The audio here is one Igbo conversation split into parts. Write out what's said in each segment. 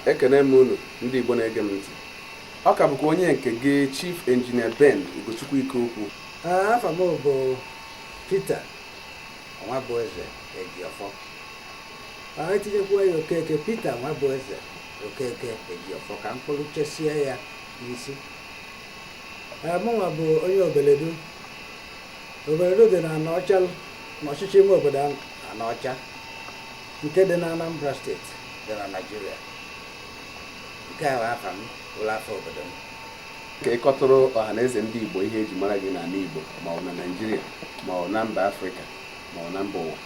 ekene m unu ndị Igbo na-ege m ntị ọ ka bụkwa onye nke gị Chief Engineer Ben Ugochukwu Ikeokwu afa m bụ Peter Nwabueze Ejiofor e tinyekwa ya Okeke Peter Nwabueze Okeke Ejiofor ka m kpọruchesie ya n'isi mụnwa bụ onye obeledu obeledu dị na Anọcha n'ọchịchị ime obodo Anọcha nke dị na Anambra steeti dị na Naịjirịa nke a bụ afa m bụlụ afa obodo m ka ị kọtụrụ ọha na eze ndị Igbo ihe eji mara gị n'ala Igbo ma ọ bụ na Naịjirịa ma ọ bụ na mba Afrịka ma ọ bụ na mba ụwa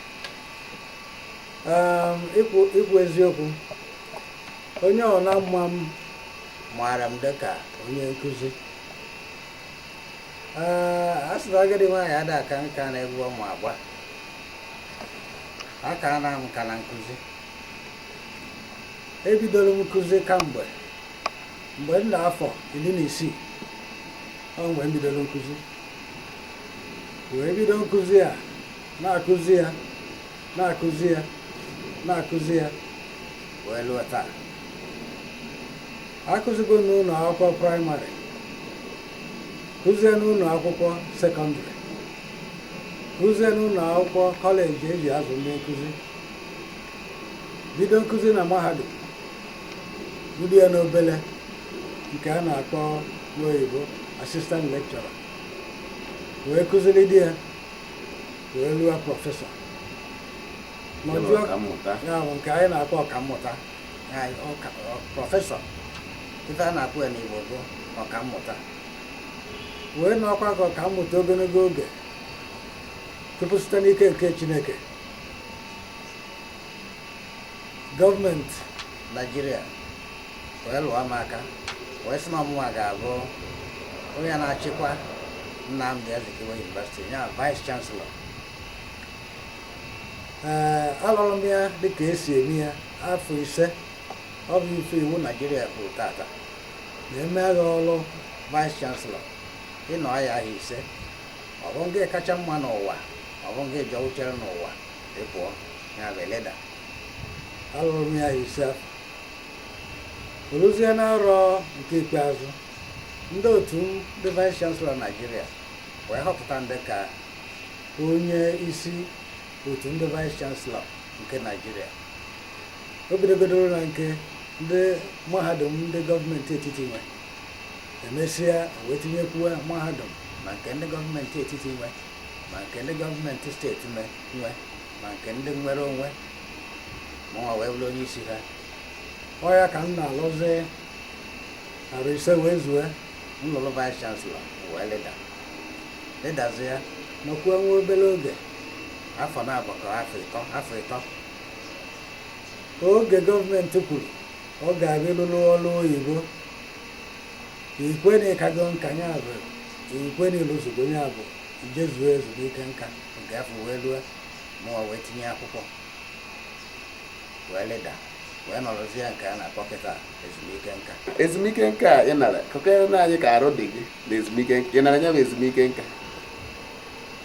ehm, ikwu eziokwu onye ọbụna ma m maara m dịka onye nkụzi ehm, a sị na agadi nwaanyị ada aka nka n'egwu ọ ma agba Akana m nka na nkụzi ebidoro m nkụzi kamgbe mgbe m dị afọ iri na isii ọ mgbe m bidoro nkụzi wee bido nkụzi a na-akụzi ya na-akụzi ya na-akụzi ya wee luo taa akụzigo m n'ụlọ akwụkwọ praịmarị kụzie n'ụlọ akwụkwọ sekọndịrị kụzie n'ụlọ akwụkwọ kọleji eji azụ ndị nkụzi bido nkụzi na mahadum bido ya n'obele nke a na-akpọ n'oyibo assistant lecturer wee kụziride ya wee luo prọfesọ nke anyị na-akpọ ọkammụta prọfesọ ife a na-akpọ ya n'Igbo bụ ọkammụta wee nọkwa ka ọkammụta ogologo oge tupu site n'ike nke Chineke gọọmenti Naijiria wee lụọ m aka wee sị na ọ mụnwa ga-abụ onye na-achịkwa Nnamdi Azikiwe University ya vice chancellor ee alụrụ m ya dịka e si eme ya afọ ise ọ bụ ife iwu Naijiria kwuru tata na e nye gị ọrụ vice chancellor ị nọọ ya arọ ise ọ bụ ngị kacha mma n'ụwa ọ bụ ngị jọgbuchara n'ụwa ị pụọ ya bụ eleda alụrụ m ya arọ ise afụ o luzie na arọ nke ikpeazụ ndị otu ndị vice chancellor naijiria wee họpụta m dịka onye isi otu ndị vice chancellor nke naijiria o bidogodoro na nke ndị mahadum ndị gọọmenti etiti nwe emesịa wee tinyekwuo mahadum ma nke ndị gọọmenti etiti nwe ma nke ndị gọọmenti steeti nwe ma nke ndị nwere onwe mụnwa wee bụrụ onye isi ha ọ ya ka m na-alụzi arọ ise wee zue m lụrụ vice chancellor wee lịda lịdazie nọkwuo nwa obere oge afọ na-abụ ka afọ ịtọ oge gọọmenti kwuru ọ ga-abịa lụrụ ọrụ oyibo i kwe na ị kago nka ya bụ i kwe na ị lụzugo ya bụ ijezuo ezumike nka nke afọ wee lue mụnwa wee tinye akwụkwọ wee lịda wee nọrọzia nke a na-akpọ kịta ezumike nka ezumike nka a ị nara kọkwuoro nụ anyị ka arụ dị gị na ezumike nka ị nara ya bụ ezumike nka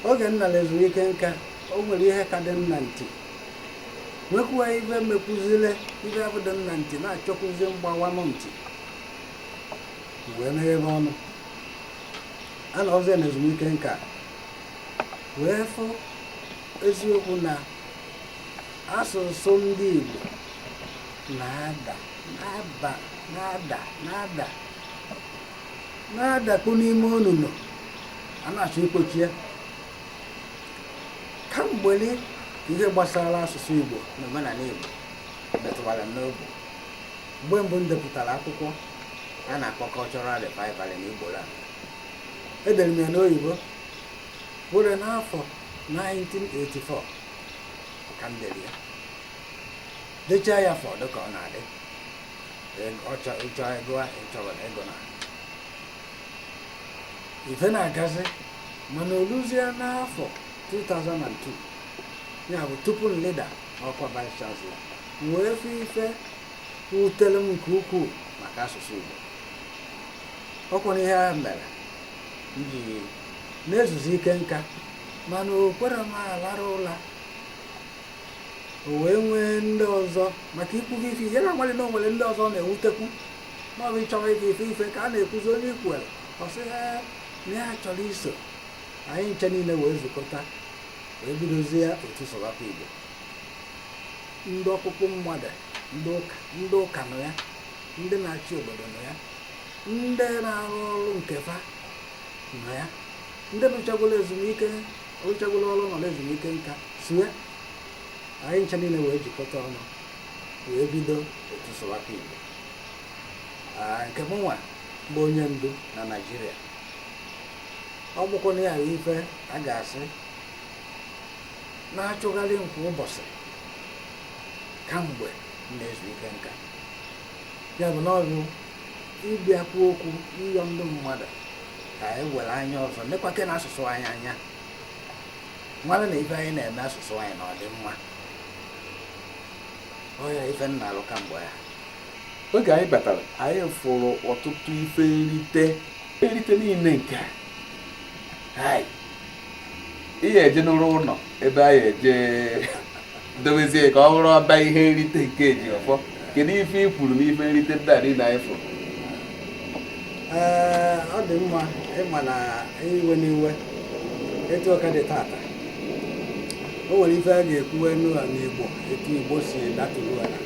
oge m nara ezumike nka o nwere ihe ka dị m na ntị nwekwuo ife mekwuziri ife afụ dị m na ntị na-achọkwuzi ịgbawa m ntị wee meghebe ọnụ a nọzie na ezumike nka wee fụ eziokwu na asụsụ ndị Igbo na-ada na-ada na-ada na-ada na-adakpu n'ime onunu a na-achọ ikpochi ya kamgbe ihe gbasara asụsụ Igbo na omenala Igbo metụwara m n'obi mgbe mbụ m depụtara akwụkwọ a na-akpọ Cultural Revival in Igboland edere m ya n'oyibo bụrụ n'afọ 1984 ka m dere ya dechaa ya fọdụ ka ọ na-adị ọchọ ịchọ ego ịchọwara ego na ife na-agazi mana oluzie n'afọ 2002 ya bụ tupu m lịda ọkwa vice chancellor m wee fụ ife wutere m nke ukwuu maka asụsụ igbo ọkwa na ihe a mere m ji na-ezuzi ike nka mana o kwerọ m alarụ ụla o wee nwee ndị ọzọ maka ikwugo ife ihe na-agbalị na o nwere ndị ọzọ na-ewutekwu maọbụ ịchọwa ife ka a na-ekwuzi onye i kwuoro ọ sị na ya chọrọ iso anyị ncha niile wee zukọta wee bidozia otu sụwakwa igbo ndị ọkpụkpụ mmadụ ndị ụka nọ ya ndị na-achị obodo nọ ya ndị na-arụ ọrụ nke fa nọ ya ndị rụchagolo ezumike rụchagolo ọrụ nọ ezumike nka so ya anyị ncha niile wee jikọta ọnụ wee bido otu sụwakwa igbo nke mụnwa bụ onye ndu na naijiria ọ bụkwa na ya ife a ga-asị na-achụgharị m kwa ụbọchị kamgbe m na-ezu ike nka ya bụ na ọ bụ ịbịa kwuo okwu ịyọ ndị mmadụ ka anyị were anya ọzọ nekwakene asụsụ anyị anya mara na ife anyị na-eme asụsụ anyị na ọ dị mma ọ ya ife m na-alụ kamgbe ya oge anyị batara anyị fụrụ ọtụtụ ife nrite nrite niile nke a ị ya-eje n'ụrụ ụlọ ebe anyị eje dobezie ka ọ bụrụ ọba ihe nrite nke Ejiọfọ kedu ife ị kwuru n'ife nrite ndị a niile anyị fụrụ ọ dị mma ị ma na iwe n'iwe etu ọ ka dị tata o nwere ife a ga-ekwuwe n'ụlọ n'Igbo etu Igbo si datụrụ ala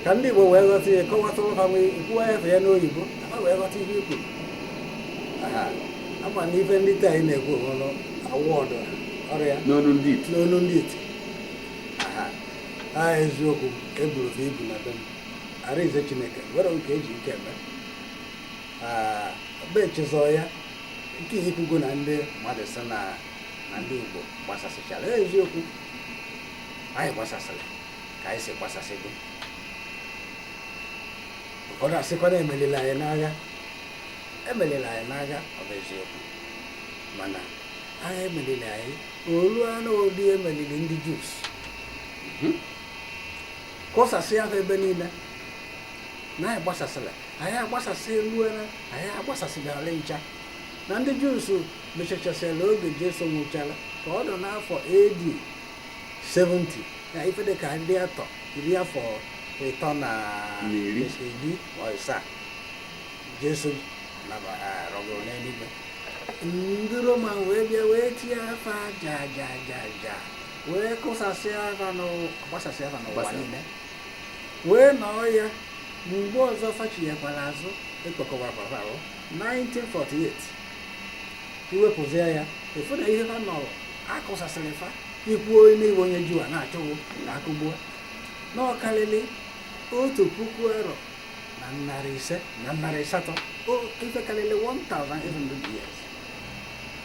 ka ndị Igbo wee ghọta ihe kọwatụrụ ha wee kwuo efe ya n'oyibo ha wee ghọta ihe i kwuru a ma na ife ndị taa anyị na-ekwu ọnụ award ọrịa n'olu ndị iti n'olu ndị iti ha eziokwu eburu ha ibu na be m arize chineke nwere nke e ji ike eme be chezọ ya nke i kwugo na ndị mmadụ sị na ndị Igbo gbasasịchara eziokwu anyị gbasasịrị ka anyị si gbasasị gị ụfọdụ asịkwa na emerila anyị n'agha emerila anyị n'agha ọ bụ eziokwu mana agha emerila anyị oluo n'ụdị e meriri ndị Jews mhm. kụsasịa fa ebe niile na anyị gbasasịla anyị agbasasị elu anyị agbasasịgara ncha na ndị Jews mechachasịla oge Jesu nwụchara ka ọ nọ n'afọ AD 70 na ife dị ka iri atọ iri afọ ịtọ na arọ ịsaa jesu rọgoro n'eluigwe ndị roma wee bịa wee tie fa aja aja aja aja wee kụsasịa fa gbasasịa fa n'ụwa niile wee nọọ ya mgbe ọzọ fa chighakwara azụ e kpokọwakwara 1948 i wepụzie ya ị fụ na ihe ha nọrọ a kụsasịrị fa i kwuo na ị bụ onye juu a na-achọ ka a kụgbuo na ọ karịrị otu puku arọ na narị ise na narị asatọ o- ife karịrị 1800 years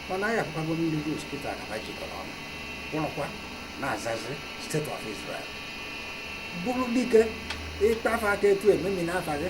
mana anyị afụkwago ndị Jews kịta na ha jikọrọ ọnụ kwụrụkwa na-azazi state of israel bụrụ dike ị kpa fa aka etu ememinaa fa gị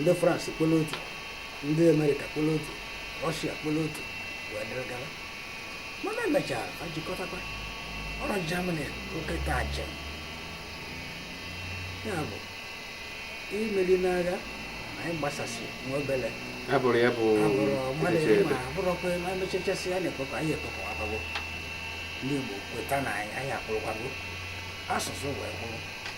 ndị France kporo otu ndị Amerịka kporo otu Rọshia kporo otu wee dịrị gara mana e mechara ha jikọtakwa ọ bụrụ Germany nke taa ya bụ imeri n'agha na anyị gbasasị nwa obere ya bụrụ ya bụ abụrụ mmadụ echiche ịma ebe. abụrụkwa ịma emechachasị ya na-ekpokọ anyị ekpokọ abago ndị Igbo kweta na anyị anyị akwụrụkwago asụsụ wee kwụrụ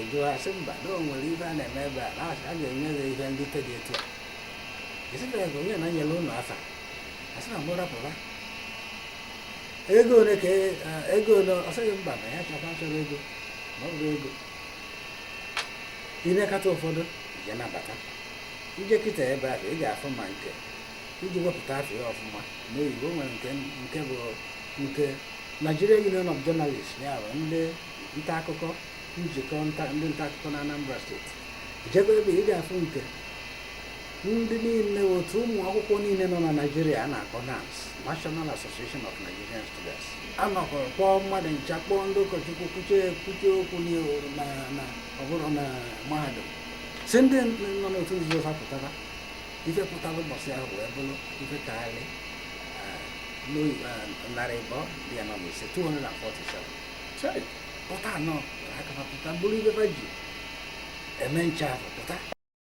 eju ha sị mba na o nwere ife a na-eme ebe a na asị a ga-enye gị ihe nrite dị etu a esibere ka onye na-enyere ụlọ afa asị na mụ rapụra ego ole ka e- a- ego ole ọ sị gị mba na ya chọkwa chọrọ ego na ọ bụrụ ego i nekata ụfọdụ i jee nabata i jee kịta ebe ahụ ị ga-afụ ma nke e ji wepụta afa ya ọfụma n'oyibo o nwere nke nke bụ nke Nigeria Union of Journalists ya bụ ndị nta akụkọ njikọ nta ndị nta akụkọ na Anambra steeti i jebe ebe ị ga-afụ nke ndị niile otu ụmụ akwụkwọ niile nọ na Naịjirịa a na-akpọ NANS National Association of Nigerian Students a nọkọrọ kpọọ mmadụ ncha kpọọ ndị ụkọchukwu kwuchie ekwuchie okwu n'ihu na na ọ bụrụ na mahadum sị ndị nọ n'otu nzuzo ha pụtara ife pụtara ụbọchị ahụ wee bụrụ ife karịrị ah, n'oyi- ah, narị abụọ iri anọ na ise 247 pụta anọ pụta aka pụta buru ife fa ji eme ncha pụta